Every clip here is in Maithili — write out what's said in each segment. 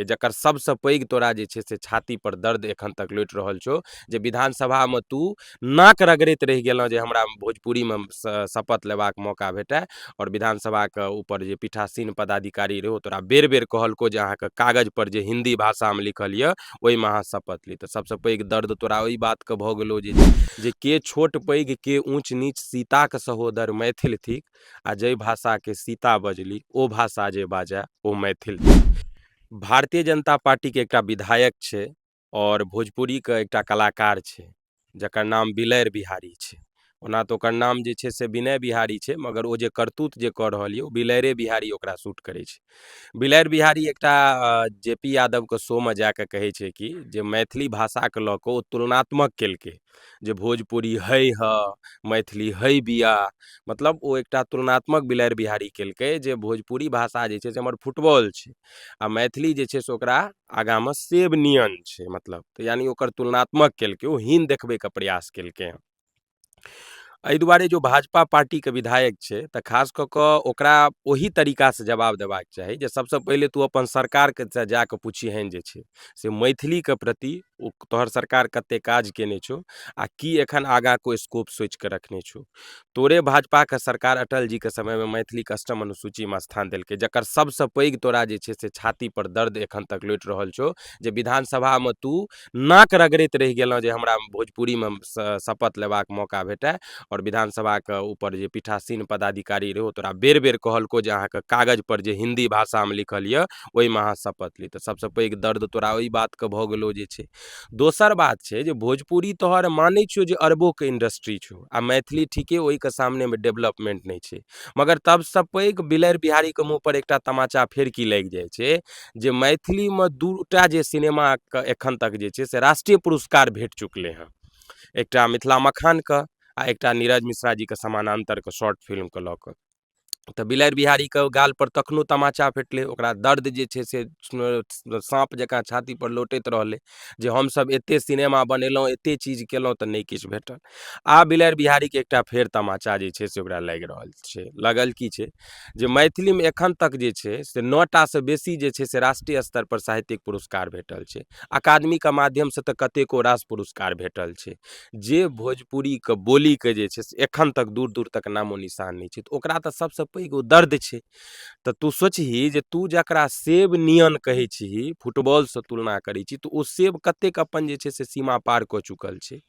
जे जकर सबसँ पैघ तोरा जे छै से छातीपर दर्द एखन तक लोटि रहल छौ जे विधानसभामे तू नाक रगड़ैत रहि गेलऽ जे हमरा भोजपुरीमे शपथ लेबाक मौका भेटै आओर विधानसभाके उपर जे पीठासीन पदाधिकारी रहै ओ तोरा बेर बेर कहलकौ जे अहाँके कागजपर जे हिन्दी भाषामे लिखल यऽ ओइमे अहाँ शपथ ली तऽ सबसँ पैघ दर्द तोरा ओइ बातके भऽ गेलौ जे जे के छोट पैघ के ऊँच नीच सीताके सहोदर मैथिल थिक आ जाहि भाषाके सीता बजली ओ भाषा जे बाजय ओ मैथिल भारतीय जनता पार्टीके एकटा विधायक छै आओर भोजपुरीके एकटा कलाकार छै जकर नाम बिलैर बिहारी छै ओना तऽ ओकर नाम जे छै से विनय बिहारी छै मगर ओ जे करतूत जे कऽ रहल यऽ ओ बिलैरे बिहारी ओकरा सूट करै छै बिलैर बिहारी एकटा जे पी यादवके शोमे जाकऽ कहै छै कि जे मैथिली भाषाके लऽ कऽ ओ तुलनात्मक केलकै जे भोजपुरी हइ ह मैथिली हइ बिआ मतलब ओ एकटा तुलनात्मक बिलाड़ि बिहारी केलकै जे भोजपुरी भाषा जे छै से हमर फुटबॉल छै आ मैथिली जे छै से ओकरा आगाँमे सेब नियन छै मतलब तऽ यानि ओकर तुलनात्मक केलकै ओ हीन देखबैके प्रयास केलकै हँ एहि दुआरे जो भाजपा पार्टीके विधायक छै तऽ खास कऽ कऽ ओकरा ओहि तरीकासँ जवाब देबाक चाही जे सभसँ पहिले तू अपन सरकारके से जा कऽ पुछिहेन जे छै से मैथिलीके प्रति ओ तोहर सरकार कते काज केने छौ आ की एखन आगा को स्कोप सोचि कऽ रखने छौ तोरे भाजपाके सरकार अटल जीके समयमे मैथिलीके अष्टम अनुसूचीमे स्थान देलकै जकर सबसँ पैघ तोरा जे छै से छाती पर दर्द एखन तक लोटि रहल छौ जे विधानसभामे तू नाक रगड़ैत रहि गेलँ जे हमरा भोजपुरीमे स- शपथ लेबाक मौका भेटए आओर विधानसभाके ऊपर जे पीठासीन पदाधिकारी रहौ तोरा बेर बेर कहलको जे अहाँके कागज पर जे हिंदी भाषामे लिखल यऽ ओहिमे अहाँ शपथ ली तऽ सबसँ पैघ दर्द तोरा ओहि बातके भऽ गेलौ जे छै दोसर बात छै जे भोजपुरी तोहर मानै छियौ जे अरबोके इंडस्ट्री छौ आ मैथिली ठीके ओहिके सामनेमे डेवलपमेंट नहि छै मगर तबसँ पैघ बिलरि बिहारीके मुँह पर एकटा तमाचा फेर की लागि जाइ छै जे मैथिलीमे दूटा जे सिनेमाके एखन तक जे छै से राष्ट्रीय पुरस्कार भेट चुकलै हँ एकटा मिथिला मखानके आ एकटा नीरज मिश्रा जीके समानान्तरके शॉर्ट फिल्मके लऽ कऽ तऽ बिलाड़ि बिहारीके गालपर तखनो तमाचा भेटलै ओकरा दर्द जे छै से साँप जकाँ छातीपर लोटैत रहलै जे हमसभ एतेक सिनेमा बनेलहुँ एतेक चीज कएलहुँ तऽ नहि किछु भेटल आब बिलाड़ि बिहारीके एकटा फेर तमाचा जे छै से ओकरा लागि रहल छै लागल कि छै जे मैथिलीमे एखन तक जे छै से नओ टासँ बेसी जे छै से राष्ट्रीय स्तरपर साहित्यिक पुरस्कार भेटल छै अकादमीके माध्यमसँ तऽ कतेको रास पुरस्कार भेटल छै जे भोजपुरीके बोलीके जे छै से एखन तक दूर दूर तक नामो निशान नहि छै तऽ ओकरा तऽ सबसँ पैघ ओ दर्द छै तऽ तू सोचही जे तू जकरा सेब नियन कहै छीही फुटबॉलसँ तुलना करै छी तऽ ओ सेब कतेक अपन जे छै से सीमा पार कऽ चुकल छै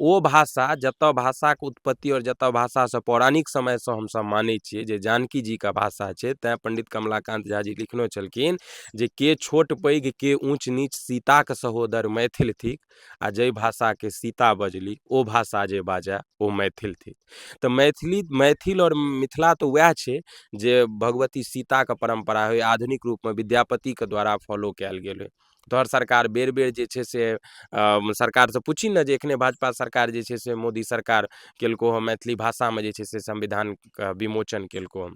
ओ भाषा जतऽ भाषाके उत्पत्ति आओर जतऽ भाषासँ पौराणिक समयसँ हमसब मानै छियै जे जानकी जीके भाषा छै तैं पण्डित कमलाकान्त झा जी लिखने छलखिन जे के छोट पैघ के ऊँच नीच सीताके सहोदर मैथिल थिक आ जाहि भाषाके सीता बजली ओ भाषा जे बाजै ओ मैथिल थिक तऽ मैथिली मैथिल आओर मिथिला तऽ वएह छै जे भगवती सीताके परम्परा होइ आधुनिक रूपमे विद्यापतिके द्वारा फॉलो कयल गेल होइ तोहर सरकार बेर बेर जे छै से अऽ सरकारसँ पुछही ने जे एखने भाजपा सरकार जे छै से मोदी सरकार केलकौ हँ मैथिली भाषामे जे छै से संविधानके विमोचन केलकौ हँ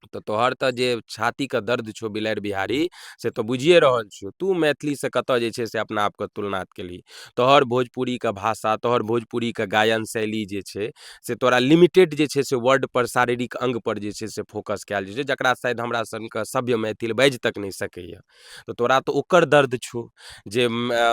तऽ तोहर तऽ जे छातीके दर्द छौ बिलाड़ि बिहारी से तऽ बुझिए रहल छियौ तू मैथिलीसँ कतऽ जे छै से अपना आपके तुलना केलही तोहर भोजपुरीके भाषा तोहर भोजपुरीके गायन शैली जे छै से तोरा लिमिटेड जे छै से वर्डपर शारीरिक अङ्गपर जे छै से फोकस कयल जाइ छै जकरा शायद हमरा सनके सभ्य मैथिल बाजि तक नहि सकैए तऽ तोरा तऽ ओकर दर्द छौ जे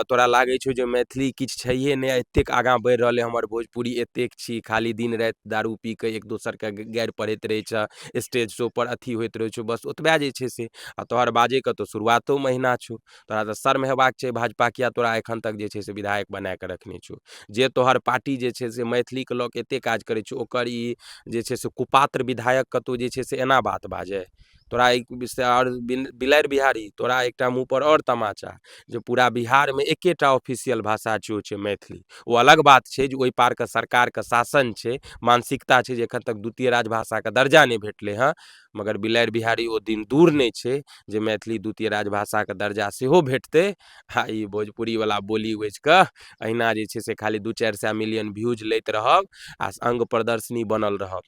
तोरा लागै छौ जे मैथिली किछु छैहे नहि एतेक आगाँ बढ़ि रहलै हमर भोजपुरी एतेक छी खाली दिन राति दारू पी कऽ एक दोसरके गारि पढ़ैत रहै छह स्टेज शो पर अथी होइत रहै छौ बस ओतबे जे छै से आ तोहर बाजैके तऽ शुरुआतो महिना छौ तोरा तऽ शर्म हेबाक छै भाजपा किया तोरा एखन तक जे छै से विधायक बना कऽ रखने छौ जे तोहर पार्टी जे छै से मैथिलीके लऽ कऽ एतेक काज करै छौ ओकर ई जे छै से कुपात्र विधायक कतौ जे छै से एना बात बाजै तोरा एक विषय आओर बिलाड़ि बिहारी तोरा एकटा मुँहपर आओर तमाचा जे पूरा बिहारमे एकेटा ऑफिसियल भाषा छै ओ छै मैथिली ओ अलग बात छै जे ओइ पारके सरकारके शासन छै मानसिकता छै जे एखन तक द्वितीय राजभाषाके दर्जा नहि भेटलै हँ मगर बिलाड़ि बिहारी ओ दिन दूर नहि छै जे मैथिली द्वितीय राजभाषाके दर्जा सेहो भेटतै आओर ई भोजपुरीवला बोली बजिकऽ अहिना जे छै से खाली दू चारि सए मिलियन व्यूज लैत रहब आओर अङ्ग प्रदर्शनी बनल रहब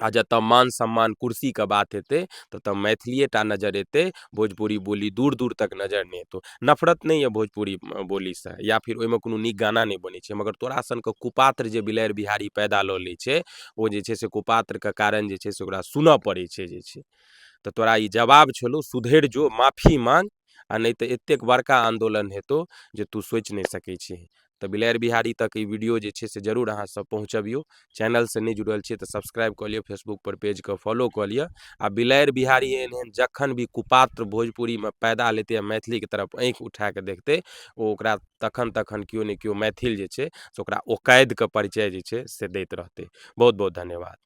आओर जतऽ मान सम्मान कुर्सीके बात हेतै ततऽ मैथिलिएटा नजरि अएतै भोजपुरी बोली दूर दूर तक नजरि नहि अएतौ नफरत नहि अइ भोजपुरी बोलीसँ या फेर ओहिमे कोनो नीक गाना नहि बनै छै मगर तोरा सनके कुपात्र जे बिलाड़ि बिहारी पैदा लऽ लै छै ओ जे छै से कुपात्रके कारण जे छै से ओकरा सुनऽ पड़ै छै जे छै तऽ तोरा ई जवाब छलौ सुधरि जो माफी माँग आओर नहि तऽ एतेक बड़का आन्दोलन हेतौ जे तू सोचि नहि सकै छिही तऽ बिलारि बिहारी तक ई वीडियो जे छै से जरूर अहाँसभ पहुँचबियौ चैनलसँ नहि जुड़ल छियै तऽ सब्सक्राइब कऽ लिअ फेसबुकपर पेजके फॉलो कऽ लिअ आ बिलारि बिहारी एहन एहन जखन भी कुपात्र भोजपुरीमे पैदा लेतै आ मैथिलीके तरफ आँखि उठा कऽ देखतै ओ ओकरा तखन तखन केओ ने केओ मैथिल जे छै से ओकरा ओकैदके परिचय जे छै से दैत रहतै बहुत बहुत धन्यवाद